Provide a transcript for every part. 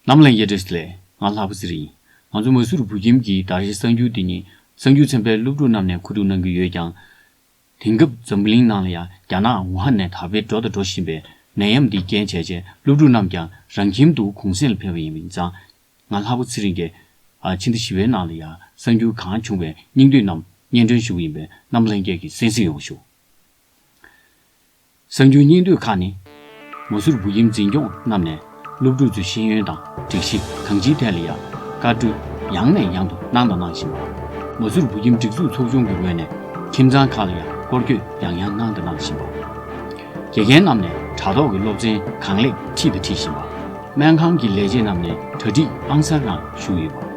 ནམ་ལངས་ཡེ་ཏྲེས་ལས། ང་ལྷ་བུ་ཟི་རིང། ང་ཚོ་མ་སུ་རུ་བོད་ཁྱིམ་གྱི་དར་གཞི་གསར་འགྱུར་འདི་ཉིད་གསར་འགྱུར་ཚན་པའི་སློབ་ཕྲུག་རྣམས་ནས་ཁུ་བསྡུ་གནང་གི་ཡོད་ཀྱང། དེང་སྐབས་འཛམ་གླིང་ནང་ལ་ཡང་རྒྱ་ནག་ཝུ་ཧན་ནས་དར་འཕེལ་འགྲོ་དང་འགྲོ་བཞིན་པའི་ནད་ཡམས་འདིས་རྐྱེན་བྱས་རྗེས་སློབ་ཕྲུག་རྣམས་ཀྱང་རང་ཁྱིམ་དུ་གུང་གསེང་ལ་ཕེབས་པ་ཡིན་པས་ཙང་ང་ལྷ་བོ་ཚེ་རིང་རྒྱལ། ཕྱི་ཟླ་བཞི་བའི་ནང་ལ་ཡང་གསར་འགྱུར་གང་བྱུང་བའི་སྙིང་བསྡུས་རྣམས་སྙན་སྒྲོན་ཞུ་གི་ཡིན་པས་རྣམས་ལྷན་རྒྱས་ཀྱིས་གསན་གཟིགས་ཡོང་བ་ཞུ། གསར་འགྱུར་སྙིང་བསྡུས་ཁག་ནི། མོ་ཟུར་བུ་ཡིམ་འཛིན་སྐྱོང་རྣམས་ནས་སློབ་ཕྲུག་ཚོའི་ཤེས་ཡོན་དང་སྒྲིག་གཞི་གང་ཅིའི་ཐད་ལ་ཡང་བཀའ་བཀྲོལ་ཡང་ནས་ཡང་དུ་གནང་དང་གནང་བཞིན་པ། མོ་ཟུར་བུ་ཡིམ་སྒྲིག་འཛུགས་ཚོགས་ཆུང་གི་ངོས་ནས་ཁྱིམ་ཚང་ཁག་ལ་ཡང་སྐོར་སྐྱོད་ཡང་ཡང་གནང་དང་གནང་བཞིན་པ། དགེ་རྒན་རྣམས་ནས་དྲ་ཐོག་གི་སློབ་ཚན་གང་ལེགས་ཁྲིད་དང་ཁྲིད་བཞིན་པ། སྨན་ཁང་གི་ལས་བྱེད་རྣམས་ནས་གྲ་སྒྲིག་ཨང་གསར་རང་ཞུ་ཡོད་པ།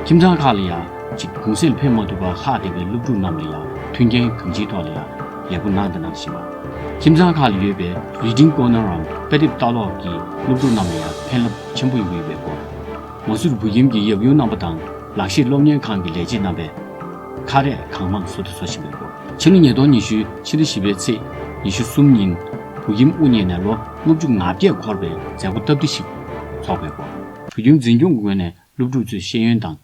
ཁྱིམ་ཚང་ཁག་ལ་ཡང་གཅིག་གུང་སེང་འཕེན་མ་ཐུབ་པར་ལྷག་བསྡད་པའི་སློབ་ཕྲུག་རྣམས་ལ་ཡང་མཐུན་རྐྱེན་གང་ཅིའི་ཐོག་ལ་ཡང་ལས་སྒོ་གནང་དང་གནང་བཞིན་པ། ཁྱིམ་ཚང་ཁག་ལ་ཡོད་པའི Reading Corner འམ་དཔེ་དེབ་ལྟ་ཀློག་གི་སློབ་ཕྲུག་རྣམས་ལ་ཡང་ཕན་རླབས་ཆེན་པོ་ཡོང་གི་ཡོད་པའི་སྐོར། མོ་སུར་བུ་ཁྱིམ་གྱི་ཡབ་ཡུམ་རྣམ་པ་དང་ལག་ཤེས་སློབ་གཉེར་ཁང་གི་ལས་བྱེད་རྣམ་པས་ཁ་རས་གང་མང་བཟོ་དང་བཟོ་བཞིན་པའི་སྐོར། ཕྱི་ལོ་ཉིས་སྟོང་ཉི་ཤུའི་ཕྱི་ཟླ་བཞི་པའི་ཚེས་ཉི་ཤུ་གསུམ་ཉིན་བུ་ཁྱིམ་དབུ་བརྙེས་ནས་ལོ་སློབ་ཕྲུག་ང་བརྒྱད་འཁོར་བའི་མཛད་སྒོ་སྟབས་བདེ་ཞིག་འཚོགས་པའི་སྐོར། བོད་ཁྱིམ་འཛིན་སྐྱོང་གི་ངོས་ནས་སློབ་ཕྲུག་ཚོའི་ཤེས་ཡོན་དང།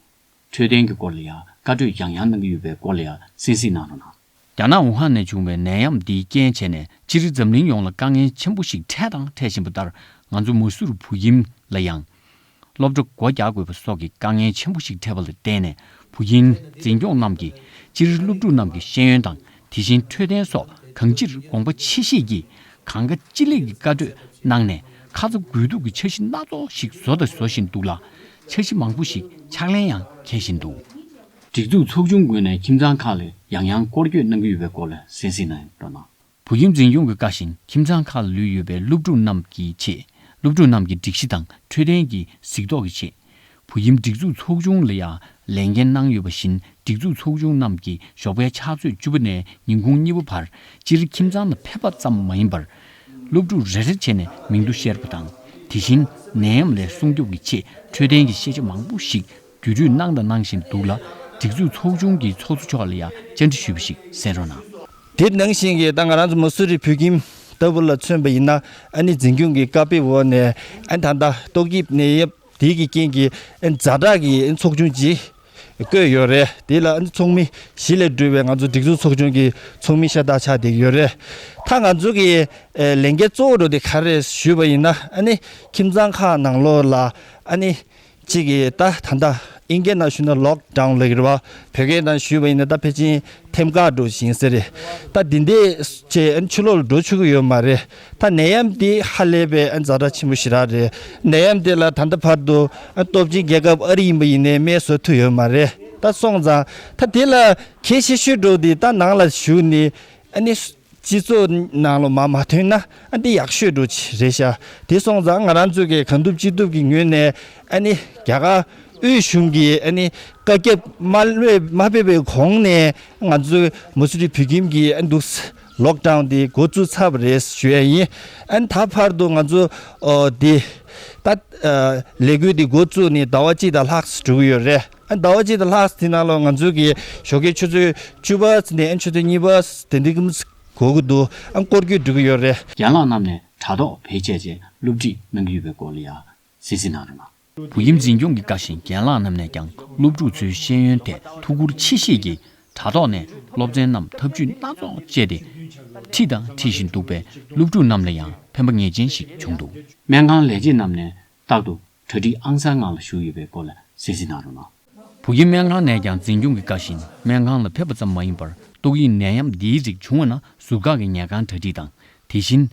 འཕྲོད་བསྟེན་གྱི་སྐོར་ལ་ཡང་བཀའ་གྲོས་ཡང་ཡང་གནང་གི་ཡོད་པའི་སྐོར་ལ་ཡང་གསན་གཟིགས་གནང་རོགས་གནང། རྒྱ་ནག་ཝུ་ཧན་ནས་བྱུང་བའི་ནད་ཡམས་འདིའི་རྐྱེན་བྱས་ནས་སྤྱིར་འཛམ་གླིང་ཡོངས་ལ་དཀའ་ངལ་ཆེན་པོ་ཞིག་འཕྲད་དང་འཕྲད་བཞིན་པ་ལྟར་ང་ཚོ་མ་སུར་བུ་ཁྱིམ་ལ་ཡང་སློབ་གྲྭ་སྒོ་རྒྱག་དགོས་པ་སོགས་ཀྱི་དཀའ་ངལ་ཆེན་པོ་ཞིག་འཕྲད་པ་ལ་བརྟེན་ནས་བུ་རྒྱུན་འཛིན་སྐྱོང་རྣམས་ཀྱིས་སྤྱིར་སློབ་ཕྲུག་རྣམས་ཀྱི་ཤེས་ཡོན་དང་དེ་བཞིན་འཕྲོད་བསྟེན་སོགས་གང་ཅིར་དགོངས་པ་ཆེ་བཞེས་ཀྱིས་གང་དགའ་ཅི་ལེགས་ཀྱི་བཀའ་གྲོས་གནང་ནས་ཁ་ཚ་དགོས་གཏུག་གི་འཆར་གཞི་སྣ་ཚོགས་ཤིག་བཟོ་དང་བཟོ་བཞིན་འདུག་ལ། འཆར་གཞི་མང་པོ་ཞིག་ཕྱག་ལེན་ཡང་འཁེལ་བཞིན་འདུག། སྒྲིག་འཛུགས་ཚོགས་ཆུང་དགོས་ནས་ཁྱིམ་ཚང་ཁག་ལ་ཡང་ཡང་སྐོར་སྐྱོད་གནང་གི་ཡོད་པའི་སྐོར་ལ་གསན་གཟིགས་གནང་ཡོད་འདུག་ལ། བུ་ཁྱིམ་འཛིན་ཡོངས་ཀྱི་བཀའ་བཞིན་ཁྱིམ་ཚང་ཁག་ལ་ལུས་ཡོད་པའི་སློབ་ཕྲུག་རྣམས་ཀྱི་ཆེད་སློབ་ཕྲུག་རྣམས་ཀྱི་སྒྲིག་གཞི་དང་འཕྲོད་བསྟེན་གྱི་གཟིགས་རྟོག་གི་ཆེད། བུ་ཁྱིམ་སྒྲིག་འཛུགས་ཚོགས་ཆུང་ལ་ཡང་ལས་འགན་གནང་ཡོད་པ་བཞིན་སྒྲིག་འཛུགས་ཚོགས་ཆུང་རྣམས་ཀྱི་ཞོགས་པའི་ཕྱག་ཚོད་བཅུ་པ་ནས་ཉིན་གུང་གཉིས་པ་བར་སྤྱིར་ཁྱིམ་ཚང་ལ་ཕེབས་པ་ཙམ་མ་ཡིན་པར། སློབ་ཕྲུག་རེ་རེར་བྱས་ནས་མིང་ཐོ་བཤེར་བ་དང་དེ་བཞིན་ནད་ཡམས་ལས་སྲུང་སྐྱོབ་ཀྱི་ཆེད་འཕྲོད་བསྟེན་གྱི་ཤེས་བྱ་མང་པོ་ཞིག་རྒྱུ་རུས་གནང་དང་གནང་བཞིན་འདུག་ལ། སྒྲིག་འཛུགས་ཚོགས་ཆུང་གི་ཚོགས་གཙོ་མཆོག་ལ་ཡང་བཅར་འདྲི་ཞུས་པ་ཞིག་གསན་རོགས་གནང། དེ་ནང་བཞིན་གྱི་ད་ང་རང་ཚོ་མུ་སུ་རི་བོད་ཁྱིམ་ལྟ་བུ་ལ་མཚོན་པ་ཡིན་ན་ཨ་ནི་འཛིན་སྐྱོང་གི་བཀའ་དཔེ་འོག་ནས་ཨ་ད་ལྟ་ཏོག་དབྱིབས་ནད་ཡམས་དེ་གི་རྐྱེན་གྱི་ཨ་ནི་ཛ་དྲག་གི་ཚོགས་ཆུང་ཅིག་བསྐོས་ཡོད་རེད་དེ་ལ་ཨ་ནི་ཚོགས་མི་བཞི་ལས་གྲུབ་པའི་ང་ཚོ་སྒྲིག་འཛུགས་ཚོགས་ཆུང་གི་ཚོགས་མི་ཤ་སྟག་ཆགས་བསྡད་ཀྱི་ཡོད་རེད་ད་ང་ཚོ་གི་ལས་འགན་གཙོ་བོ་རོ་དེ་ག་རེད་ཞུས་པ་ཡིན་ན་ཨ་ནི་ཁྱིམ་ཚང་ཁག་ནང་ལོགས་ལ་ཨ་ནི་གཅིག་གིས་ད་ད་ལྟ་ཨིན་སྐད་ནང་ཞུས་ན་ལོག་གྲངས་ལེགས་རེད་བ་བོད་སྐད་ནང་ཞུས་བ་ཡིན་ན་ད་ཕལ་ཆེན་ཐེམ་དཀར་འགྲོ་བཞིན་ཟེར་རེད་ད་དེ་འདས་ཆེ་ཆུ་ལོག་ལ་འགྲོ་ཆུག་གི་ཡོད་མ་རེད་ད་ནད་ཡམས་དེ་ཧ་ལས་པའི་རྫ་དྲག་ཆེན་པོ་ཞིག་རག་རེད་ནད་ཡམས་དེ་ལ་ད་ལྟ་བར་དུ་སྟོབས་ཆེན་རྒྱལ་ཁབ་ཨ་རི་ཡིན་པ་ཡིན་ནའི་སྨན་བཟོ་ཐུབ་ཡོད་མ་རེད་ད་སོང་ཙང་ད་དེ་ལ་གལ་ཆེ་ཤོས་འགྲོ་དེ་ད་ནང་ལ་ཞུས་ནས་སྤྱི་ཚོགས་ནང་ལོ་མ་མ་ཐོན་ན་ཨ་འདི་ཡག་ཤོས་འགྲོ་ཆེ་རེད་ཤ་དེ་སོང་ཙང་ང་རང་ཚོས་གི་གང་ཐུབ་ཅི་ཐུབ་གི་ངོས་ནས་ཨ་ནི་རྒྱ་གར་དབུས་གཞུང་གི་ཨ་ནི་བཀའ་ཁྱབ་མ་བློས་མ་ཕེབས་པའི་གོང་ནས་ང་ཚོས་མུ་སི་རི་བུ་ཁྱིམ་གི་ཨ་འདུག་ས་ལོག་དྲངས་ཏེ་འགོ་བཙུགས་ཚར་བ་རེད་ཞུ་ཡ་ཡིན་ཨ་ནི་ད་བར་དུ་ང་ཚོ་འདི་ལྟ་ལས་འགུལ་འདི་འགོ་བཙུགས་ནས་ཟླ་བ་གཅིག་དང་ལྷག་དྲུག་ཡོད་རེད། ཟླ་བ་གཅིག་དང་ལྷག་དེ་ནང་ལོ་ང་ཚོས་གི་ཞོགས་ཀྱི་ཆུ་ཚོད་བཅུ་པ་ནས་ཆུ་ཚོད་གཉིས་པ་དེ་འདི་གིམ་གོ་གི་འདུག་ཨ་སྐོར་སྐྱོད་འགྲོ་གི་ཡོད་རེད། རྒན་ལགས་རྣམས་ནས་དྲ་ཐོག་བེད་སྤྱད་ཅེས་བསླུ་བྲིད་གནང་གི་ཡོད་པའི་སྐོར་ལ་ཡང་གསལ་བརྩི་གནང་རོགས་གནང། བོད་ཁྱིམ་འཛིན་སྐྱོང་གི་བཀའ་བཞིན་རྒན་ལགས་རྣམས་ནས་ཀྱང་སློབ་ཕྲུག་ཚོའི་ཤེས་ཡོན་ཐད་ཐུགས་ཁུར་ཆེ་བཞེས་ཀྱིས་དྲ་ཐོག་ནས་སློབ་ཚན་རྣམས་ཐབས་ཇུས་སྣ་ཚོགས་སྤྱད་དེ་ཁྲིད་དང་ཁྲིད་བཞིན་འདུག་པས་སློབ་ཕྲུག་རྣམས་ལ་ཡང་ཕན་པ་ངེས་ཅན་ཞིག་བྱུང་འདུག། སྨན་ཁང་ལས་བྱེད་རྣམས་ནས་རྟག་ཏུ་གྲ་སྒྲིག་ཨང་གསར་ནང་ལ་ཞུགས་ཡོད་པའི་སྐོར་ལ་གསལ་བཤད་གནང་རོགས་གནང། བུ་ཁྱིམ་སྨན་ཁང་ནས་ཀྱང་འཛིན་སྐྱོང་གི་བཀའ་བཞིན་སྨན་ཁང་ལ་ཕེབས་པ་ཙམ་མ་ཡིན་པར་ཏོག་དབྱིབས་ནད་ཡམས་འདིའི་རིགས་བྱུང་བ་ན་ཟུར་བཀག་གི་ཉལ་ཁང་གྲ་སྒྲིག་དང་དེ་བཞིན།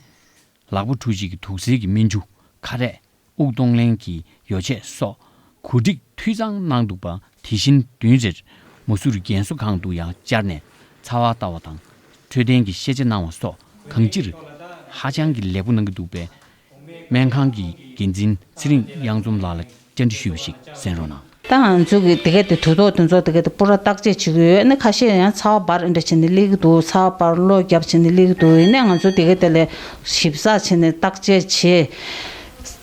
ལག་པ་འཁྲུ་བྱེད་ཀྱི་དུག་སེལ་གྱི་སྨན་ཆུ། ཁ་རས། དབུགས་གཏོང་ལེན་གྱི་ཡོ་བྱད་སོགས་གོ་སྒྲིག་འཐུས་ཚང་གནང་འདུག་པ་དེ་བཞིན་བདུན་རེར་མོ་སུ་རུ་རྒན་གསོ་ཁང་དུ་ཡང་བཅར་ནས་ཚ་བ་ལྟ་བ་དང་འཕྲོད་བསྟེན་གྱི་ཤེས་བྱ་གནང་བ་སོགས་གང་ཅིར་ཧ་ཅང་གི་ལེགས་པོ་གནང་གི་འདུག་པས་སྨན་ཁང་གི་འགན་འཛིན་ཚེ་རིང་གཡང་འཛོམས་ལགས་ལ་བཅར་འདྲི་ཞུས་པ་ཞིག་གསན་རོགས་གནང། ད་ང་ཚོས་ཀྱི་དེ་གའི་དུས་ཐོག་ཏུ་ཚོགས་དེ་གའི་སྤུ་ར་བརྟག་དཔྱད་བྱེད་ཀྱི་ཡོད་ནི་ཁ་ཤས་ཡང་ཚ་བ་འབར་འདྲ་བྱས་ནས་སླེབས་ཀྱི་འདུག་ཚ་བ་འབར་བློ་རྒྱབ་བྱས་ནས་སླེབས་ཀྱི་འདུག་ཡིན་ནའི་ང་ཚོས་དེ་གའི་དེ་ལ་ཞིབ་ཚགས་བྱས་ནས་བརྟག་དཔྱད་བྱས།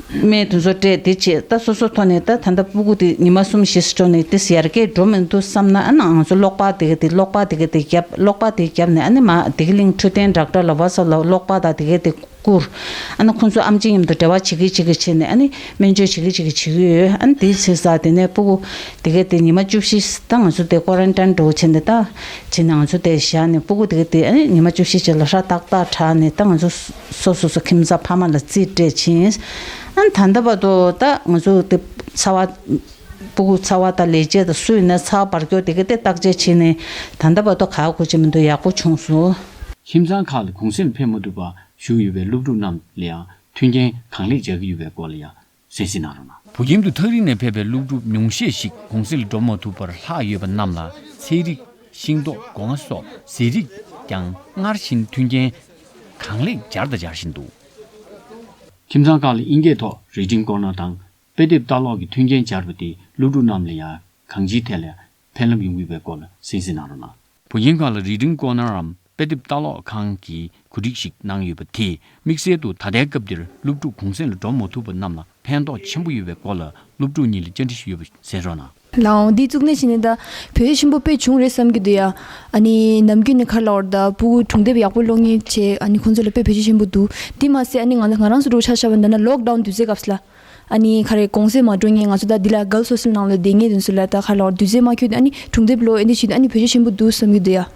སྨན་དེ་ཚོ་སྤྲད་དེ་བྱས་ད་སོ་སོའི་ཐོག་ནས་ད་ད་ལྟ་སྤུ་གུ་དེ་ཉི་མ་གསུམ་བཞི་སོ་ནས་དེ་ཡར་རྒྱས་འགྲོ་མི་འདུག་བསམ་ན་ང་ཚོས་གློག་པ་དེ་གའི་དེ་གློག་པ་དེ་གའི་དེ་བརྒྱབ་གློག་པ་དེ་བརྒྱབ་ནས་ཨ་ནི་མ་དེ་གི་གླིང་འཕྲོད་བསྟེན་བསྒྲགས་གྲ་ལ་བ་སོགས་ལ་གློག་པ་དང་དེ་གའི་དེ། བསྐུར། ཨ་ན་ཁོང་ཚོ་ཨམ་ཅི་མཉམ་དུ་འབྲེལ་བ་བྱེད་ཀི་བྱེད་ཀི་བྱེད་ནས་ཨ་ནི་སྨན་བཅོས་བྱེད་ཀི་བྱེད་ཀི་བྱེད་ཀི་ཡོད་ཨ་ནི་དེའི་ཚེ་སར་དེ་ནས་སྤོ་བོ། དེ་ག་དེ་ཉི་མ་བཅུ་བཞི་ད་ང་ཚོ་དེ་ཀོ་རན་ཏན་འགྲོ་བྱེད་ནས་ད་བྱེད་ནས་ང་ཚོ་དེ་བཞག་ནས་སྤོ་བོ་དེ་ག་དེ་ཨ་ནི་ཉི་མ་བཅུ་བཞི་བྱས་ལ་ཧྲ་ཏག་ཏག་དྲགས་ནས་ད་ང་ཚོ་སོ་སོ་སོ་ཁྱིམ་ཚང་ཕ་མ་ལ་རྩིས་སྤྲད་ཕྱིན། ཨ་ན་ད་འདའ་བར་དུ་ད་ང་ཚོ་དེ་ཚ་བ། སྤུ་གུ་ཚ་བ་དང་ལས་བྱེད་དང་སུས་ནས་ཚགས་པར་སྐྱོར་དེ་གི་དེ་བརྟག་དཔྱད་བྱས་ནས་ད་ལྟ་བར་དུ་ག་གོ་བྱེད་མི་འདུག་ཡག་པོ་བྱུང་སོང། ཁྱིམ་ཚང་ཁག་ལ་གུང་སེམས་འཕེལ་མ་ཐུབ་པ་བཞུགས་ཡོད་པའི་སློབ་ཕྲུག་རྣམས་ལ་ཡང་མཐུན་རྐྱེན་གང་ལེགས་སྦྱར་གྱི་ཡོད་པའི་སྐོར་ལ་ཡང་གསལ་བཤད་གནང་རོགས་གནང། བོད་ཁྱིམ་དུ་ཐག་རིང་ནས་ཕེབས་པའི་སློབ་ཕྲུག་ཉུང་ཤས་ཤིག་གུང་སེང་ལ་འགྲོ་མ་ཐུབ་པར་ལྷག་ཡོད་པ་རྣམས་ལ་ཚལ་རིགས་ཤིང་ཏོག་སྒོ་ང་སོགས་ཟས་རིགས་ཀྱང་སྔར་བཞིན་མཐུན་རྐྱེན་གང་ལེགས་སྦྱར་དང་སྦྱར་བཞིན་འདུག། ཁྱིམ་ཚང་ཁག་ལ་དབྱིན་སྐད་ཐོག་རིག་འབྲིང་སྐོར་ནང་དང་དཔེ་དེབ་ལྟ་ཀློག་གི་མཐུན་རྐྱེན་སྦྱར་བ་དེས་སློབ་ཕྲུག་རྣམས་ལ་ཡང་གང་ཅིའི་ཐད་ལས་ཕན་རླབས་ཡོང་གི་བའི་སྐོར་ལ་གསན་གཟིགས་གནང་རོགས་གནང། བུ་རྒན་ག་ལ་རིག་འབྲིང་ཀོ་ནར་རམ་དཔེ་དེབ་ལྟ་ཀློག་ཁང་གི་གོ་སྒྲིག་ཞིག་གནང་ཡོད་པ་དེས་དམིགས་བསལ་དུ་ད་ལྟའི་སྐབས་འདིར་སློབ་ཕྲུག་གུང་གསེང་ལ་འགྲོ་མ་ཐུབ་པ་རྣམས་ལ་ཕན་ཐོགས་ཆེན་པོ་ཡོད་པའི་སྐོར་ལ་སློབ་ཕྲུག་གཉིས་ལ་བཅར་འདྲི་ཞུས་ཡོད་པ་གསན་རོགས་གནང། ལའང་འདི་གཙུག་ནས་ཕྱི་ནས་ད་བོད་ཡིག་ཆེན་པོ་དཔེ་བྱུང་རེད་བསམ་གྱི་འདུག་ཡ། ཨ་ནི་ནམ་རྒྱུན་ནས་ཁར་ལ་བར་ད་སྤུ་གུ་གྲོང་སྡེབ་ཡག་པོ་སློག་ངེས་བྱེད་ཨ་ནི་ཁོང་ཚོ་ལ་དཔེ་བོད་ཆེན་ཆེན་པོ་འདུག་དེ་མ་ཟད་ཨ་ནི་ང་ལ་ང་རང་སུ་འགྲོ་ཆ་ཆ་བ་འདི་ན་ལོག་ཏའུ་འདུས་ཚེ་སྐབས་ལ། ཨ་ནི་ཁ་རེ་གོང་ཟས་མ་དྲོ་ངས་ང་ཚོ་ད་འདི་ལ་སྒལ་སོ་སིལ་ནང་ལ་བསྡད་ངེས་དོན་སུ་ལ་ད་ཁར་ལ་བར་འདུས་ཚེ་མ་ཁྱོད་འདི་ཨ་ནི་གྲོང་སྡེབ་ལོག་ཨེ་འདི་བྱེད་འདི་ཨ་ནི་བོད་ཆེན་ཆེན་པོ་འདུག་བསམ་གྱི་འདུག་ཡ།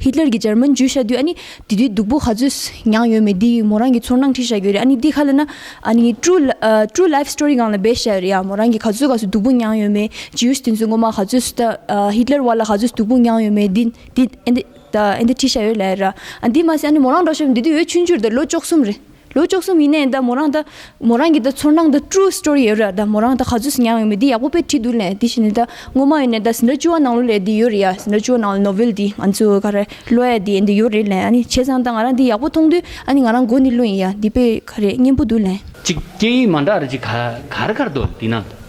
ཧི་ཏླར་གྱི་ཇར་མན་འཇུ་བཞག་དུས་ཨ་ནི་དེ་དུས་སྡུག་པོ་ག་ཚོད་མྱངས་ཡོད་མེད་འདི་མོ་རང་གི་ཚོར་སྣང་ཁྲིད་བཞག་གི་རེད་ཨ་ནི་འདི་ཁ་ལ་ན་ཨ་ནི True True Life Story སྒང་ལ་འབད་བཞག་གི་རེད་ཡ་མོ་རང་གི་ག་ཚོད་ག་ཚོད་སྡུག་པོ་མྱངས་ཡོད་མེད Jewish དེ་ཚོས་ངོ་མ་ག་ཚོད་སུ་ད་ཧི་ཏླར་བར་ལ་ག་ཚོད་སྡུག་པོ་མྱངས་ཡོད་མེད་འདི་འདི་ཨ་འདི་ད་ཨ་འདི་ཁྲིད་བཞག་ཡོད་ལ་ཡ་ར་ཨ་འདི་མ་ཟད་ཨ་ནི་མོ་རང་འགྲོ་ཤོར་བའི་འདི་དུས་འོད་ཆུང་ཆུར་དེར་ལོ་བཅོ་གསུམ་རེད། ལོ་བཅུ་གསུམ་ཡིན་ནའི་ཟླ་མོ་རང་ད། མོ་རང་གི་ད་ཚོར་སྣང་ད true story ཡོད་རེད་ད་མོ་རང་ད་ག་ཚོད་སུ་མྱངས་ཡོད་མེད་འདི་ཡག་པོ་པས་བྲིས་འདུག་ལན་དེ་བཞིན་ནས་ད་སྔོན་མ་ཡོད་ནས་ད་ཟིན་ར་བཅུ་བ་ནང་ལོ་ལས་འདི་ཡོད་རེད་ཡ་ཟིན་ར་བཅུ་བ་ནང་ལོ novel འདི་ང་ཚོ་ག་རེ་ཀློ་ཡ་འདི་འདི་ཡོད་རེད་ལན་ཨ་ནི་བྱས་ཙང་ད་ང་རང་འདི་ཡག་པོ་མཐོང་དུས་ཨ་ནི་ང་རང་མགོ་འདི་བླུན་ཡ་འདི་དཔེ་ག་རེ་སྙན་པོ་འདུག་ལན། གཅིག་སྐད་ཡིག་མ་འདྲ་རེ་གཅིག་གར་གར་འདུག་འདི་ན།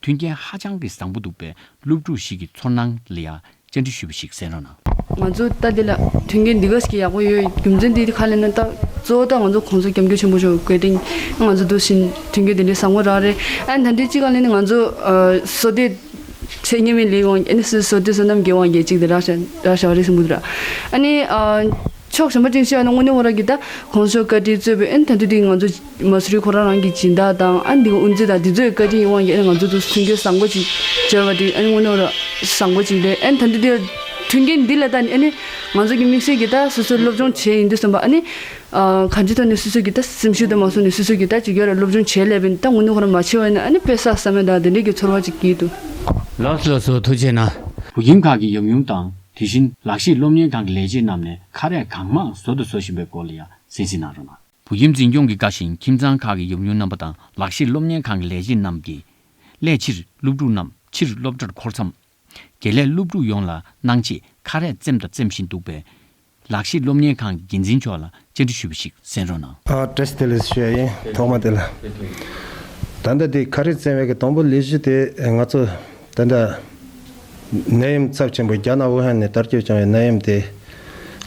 མཐུན་རྐྱེན་ཧ་ཅང་གི་བཟང་པོ་འདུག་པས་སློབ་ཕྲུག་ཞིག་གི་ཚོར་སྣང་ལ་ཡང་བཅར་འདྲི་ཞུས་པ་ཞིག་གསན་རོགས་གནང། ང་ཚོ་ལྟ་འདི་ལ་མཐུན་རྐྱེན་འདི་ག་ཞིག་གི་ཡག་པོ་ཡོད་རྒྱུ་མཚན་འདི་ཁ་ལེན་ན་ལྟ། གཙོ་བོ་ལྟ་ང་ཚོ་གོང་ཚོ་རྒྱབ་འགྱུར་ཆེན་པོ་བྱུང་བའི་གོས་སྟེང་ང་ཚོ་འདུག་བཞིན་མཐུན་རྐྱེན་དེ་འདྲའི་བཟང་པོ་རག་རེད་ཨ་ན་ད་འདྲའི་ཅི་གང་ལེན་ན་ང་ཚོ་བཟོ་སྡེ་ཆེ་གཉེར་མའི་ལས་དབང་ཨ་ན་བཟོ་སྡེ་བསོད་ནམས་རྒྱལ་དབང་རྒྱལ་གཅིག་དེ་རག་བྱ་བ་རེད་བསམ་གི་འདུག་ར་ཨ་ནི་ཕྱོགས་གཞན་པ་ཅིག་ཤོས་ཨ་ན་དངོས་གནས་བོ་ར་གི་ད་གོང་ཚོ་བཀའ་དྲིན་གཙོས་པའི་ཨ་ན་ད་འདྲའི་དེ་ང་ཚོ། མ་སུ་རི་ཁོ་རང་རང་གི་སྦྱིན་བདག་དང་ཨ་འདི་དབུ་འཛིན་དང་འདི་ཚོའི་བཀའ་དྲིན་ཡིན་དབང་གིས་ཨ་ནི་ང་ཚོ་ཚོ་མཐུན་རྐྱེན་བཟང་པོ་ཅིག་སྦྱར་བ་དེ་ཨ་ནི་དངོས་གནས་རང་བཟང་པོ་ཅིག་རེད་ཨ་ནི་ད་འདི་དེར་མཐུན་རྐྱེན་འདི་ལ་ད་ནི་ཨ་ནི་ང་ཚོ་གི་དམིགས་བསལ་གྱི་ད་སོ་སོའི་སློབ་སྦྱོང་བྱས་ཡིན་དུས་གསུམ་པ་ཨ་ནི་གང་ཅི་ཐོག་ནས་སོ་སོའི་གི་ད་སེམས་ཤུགས་ད་མ་སོ་ནས་སོ་སོའི་གི་ད་ཅིག་ཅར་རེ་སློབ་སྦྱོང་བྱས་སླད་པའི་ད་དངོས་གནས་ཁོ་རང་མ་ཆེ་བ་ཡིན་ན་ཨ་ནི་དཔེ་སགས་ས་མེད་ད་དེ་འདྲའི་གི་ཚོར་བ་ཅིག་སྐྱེས་འདུག། ལགས་སོ་སོ་ཐུགས་ཆེ་ན། བུ་རྒན་ཁག་གི་ཡབ་ཡུམ་དང་དེ་བཞིན་ལག་ཤེས་སློབ་གཉེར་ཁང་གི་ལས་བྱེད་རྣམས་ནས་ཁ་རས་གང་མང་བཟོ་དུ་བཟོ་བཞིན་པའི་སྐོར་ལ་ཡང་གསན་གཟིགས་གནང་རོགས་གནང། བོད་ཁྱིམ་འཛིན་སྐྱོང་གི་དགའ་ཞིང་ཁྱིམ་ཚང་ཁག་གི་ཡོམ་ཡོམ་རྣམ་པ་དང་ལག་ཤེས་སློབ་གཉེར་ཁང་གི་ལས་བྱེད་རྣམས་ཀྱིས། སླད་ཕྱིར་སློབ་ཕྲུག་རྣམས་ཕྱིར་སློབ་གྲྭར་འཁོར་མཚམས། དགེ་ལས་སློབ་ཕྲུག་ཡོངས་ལ་གནང་ཆེད་ཁ་རས་བཙེམས་དང་བཙེམ་བཞིན་འདུག་པས། ལག་ཤེས་སློབ་གཉེར་ཁང་གི་འགན་འཛིན་མཆོག་ལ་བཅར་འདྲི་ཞུས་པ་ཞིག་གསན་རོགས་གནང། ཨ་ཀྲེས་དེ་ལས་ཤོད་ཡིན་ཐོག་མ་དེ་ལ། ད་ལྟ་དེ་ཁ་རས་བཙེམ་བའི་གི་དང་པོ་ལས་གཞི་དེ་ང་ཚོ་ད་ལྟ། ནད་ཡམས་ཚབས་ཆེན་པོ་རྒྱ་ནག་ཝུ་ཧན་ནས་དར་རྒྱས་བྱུང་བའི་ནད་ཡམས་དེ།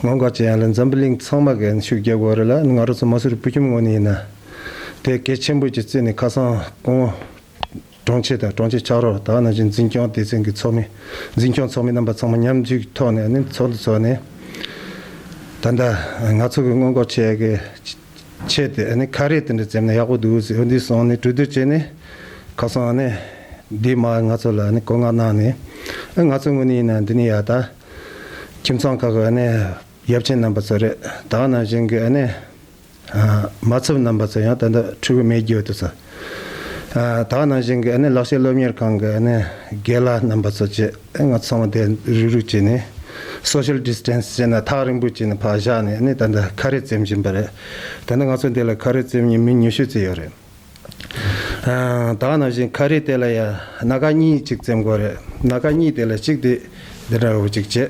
ངོ་དགའ་ཅི་ཡང་ལ་འཛམ་བུ་གླིང་ཚང་མ་གི་ཤུགས་རྒྱག་དགོས་རེད་ལ་ང་རོ་ཚོ་མ་སུ་རི་བུ་ཁྱིམ་ངོ་ནས་ཡིན་ན། དེ་གལ་ཆེན་པོ་ཅིག་བརྩིས་ནས་ཁ་སང་སྐུ་ངོ། དྲུང་ཆེ་དང་དྲུང་ཆེ་ཕྱག་རོགས་དག་ནང་བཞིན་འཛིན་སྐྱོང་སྡེ་ཚན་གི་ཚོགས་མི། འཛིན་སྐྱོང་ཚོགས་མི་རྣམ་པ་ཚང་མ་མཉམ་འཇུག་ཐོག་ནས་ནི་ཚོགས་འདུ་ཚོགས་ནས། ད་ལྟ། ང་ཚོ་གི་སྔོན་འགོག་བྱེད་ཡག་གི། ཆད་དེ་ཨ་ནི་ཁ་རས་དེ་འདྲ་བཅད་ན་ཡག་པོ་འདུག་ཟེར་འདི་སོང་ནས་གྲོས་བསྡུར་བྱས་ནས་ཁ་སང་ཨ་ནི་སྡེའི་མ་ང་ཚོ་ལ་ཨ་ནི་བཀོད་མངགས་གནང་ནས་ཨ་ང་ཚོ་དངོས་ནས་ཡིན་ན་འདི་ནི་ཡག་ད། ཁྱིམ་ཚང་ཁག་གི་ཨ་ནི་ཡབ་ཆེན་རྣམ་པ་ཚོ་རེད་ད་ཨ་ནང་བཞིན་གྱི་ཨ་ནི། མ་ཚབ་རྣམ་པ་ཚོ་ཡང་ད་ལྟ་ཕྲུ་གུ་མེད་རྒྱུ་འདུག་ཟེར། ད་ནང་བཞིན་གྱི་ལག་ཤེས་སློབ་གཉེར་ཁང་གི་དགེ་བླ་རྣམ་པ་ཚོ་བཅས་ང་ཚོ་ཚང་མ་བསྡད་རུག་རུག་བྱས་ནས Social Distance བྱས་ན་ཐག་རིང་པོ་བྱས་ནས་བག་བཞག་ནས་ད་ལྟ་ཁ་རས་བཙེམ་བཞིན་པ་རེད། ད་ནི་ང་ཚོ་འདི་ལ་ཁ་རས་བཙེམ་ཉིན་མི་ཉུ་ཤུ་ཙི་ཡོད་རེད། ད་ནང་བཞིན་ཁ་རས་དེ་ལ་ཡང་ན་ཁ་གཉིས་ཅིག་བཙེམ་དགོས་རེད། ན་ཁ་གཉིས་དེ་ལ་གཅིག་དེ་འདི་འདྲ་བོ་ཅིག་བྱས།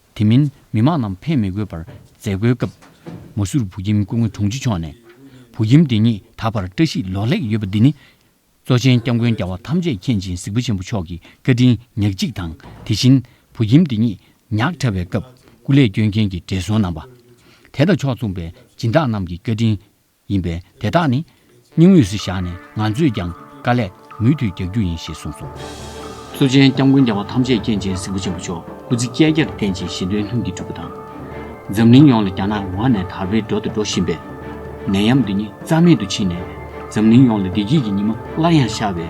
དེ་མིན་མི་དམངས་རྣམས་ཕན་མི་དགོས་པར་མཛད་སྒོའི་སྐབས། མ་སུར་བུ་ཁྱིམ་སྐུ་ངོ་དྲུང་ཆེ་མཆོག་ནས། བུ་ཁྱིམ་འདི་ཉིད་ད་བར་བཀྲ་ཤིས་ལོག་ལེགས་ཡོད་པ་འདི་ནི། གཙོ་ཆེན་སྐྱབས་མགོན་རྒྱལ་བ་ཐམས་ཅད་མཁྱེན་ཅིང་གཟིགས་པ་ཆེན་པོ་མཆོག་གི་བཀའ་དྲིན་ཉག་གཅིག་དང་དེ་བཞིན་བུ་ཁྱིམ་འདི་ཉིད་ཉག་ཕྲ་བའི་སྐབས་སྐུ་ལས་སྐྱོན་མཁན་གྱི་བགྲེས་སོང་རྣམ་པ། དད་དང་ཕྱོགས་མཚུངས་པའི་སྦྱིན་བདག་རྣམས་ཀྱི་བཀའ་དྲིན། ཡིན་པས་དེ་དག་ནི། སྙིང་དབུས་སུ་བཞག་ནས་ང་ཚོས་ཀྱང་དཀའ་ལས་མུ་མཐུད་རྒྱག་རྒྱུ་ཡིན་ཞེས་གསུངས་སོང། གཙོ་ཆེན་སྐྱབས་མགོན་རྒྱལ་བ་ཐམས་ཅད་མཁྱེན་ཅན་སྲིན་པོ་ཆེན་པོ་མཆོག་སྐུ་ཚེ་བསྐལ་བརྒྱར་བརྟན་ཅིང་གཞན་དོན་ལྷུན་གྱིས་གྲུབ་པ་དང། འཛམ་གླིང་ཡོངས་ལ་རྒྱ་ནག་ཝང་ནས་དར་བའི་འགྲོ་དང་འགྲོ་བཞིན་པའི་ནད་ཡམས་འདི་ཉིད་རྩ་མེད་དུ་ཕྱིན་ནས། འཛམ་གླིང་ཡོངས་ལ་བདེ་སྐྱིད་ཀྱི་ཉི་མ་སླར་ཡང་ཤར་བའི།